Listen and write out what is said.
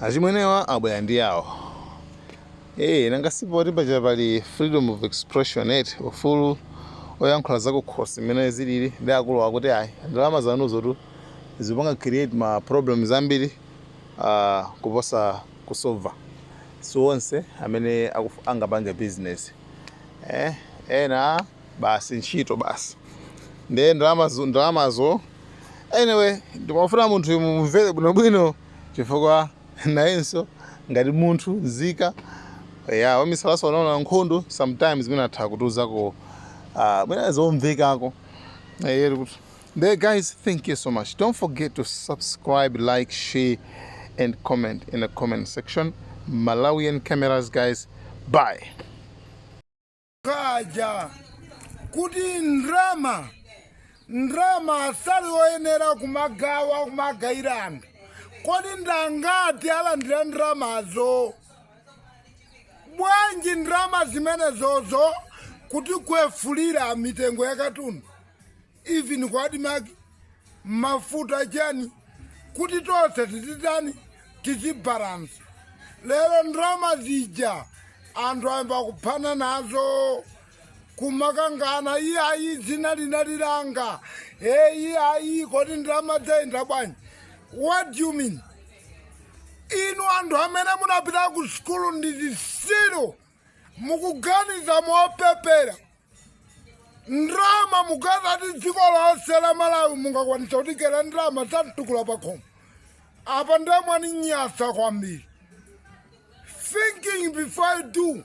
Achimwenewa abwera ndi yawo ee nanga si poti paja pali freedom of expression eti ufulu oyankhula zakukhosi mmene zilili nde akuluwa akuti ayi ndalama zanuzotu zikupanga create ma problems ambiri aah kuposa kusolva si onse amene angapange business eeh ena. basi ntchito basi ndiye ndalamazo anyway ndimafuna munthu uyu mumvere bwinobwino chifukwa nayenso ngati munthu nzika ya wamisalaso wanaona nkhondo sometimes mwina atha kutiuzako ah, mwina zomvekako nde guys thank you so much don't forget to subscribe like share and comment in the comment section malawian cameras guys bye kaja kuti ndrama ndrama sali oyenera kumagawa kumagawira anthu kodi ndangati alandira ndramazo bwanji ndrama zimenezo osatigwefulira mitengo ya katundu even ku admarc mafuta chani kuti tonse tizitani tizibalansi lero ndrama zija anthu ayamba kuphana nazo kumakangana iye ayi dzina linali langa e iye ayi kodi ndrama dzayenda bwanji what do you mean inu anthu amene munapita ku sukulu ndi zisiru mukuganiza mopepera ndrama mukazati dziko lonse la malawi mungakwanisa kutigeira ndrama za mtukula pakhomo apa nda mwaninyasa kwambiri thinking before you do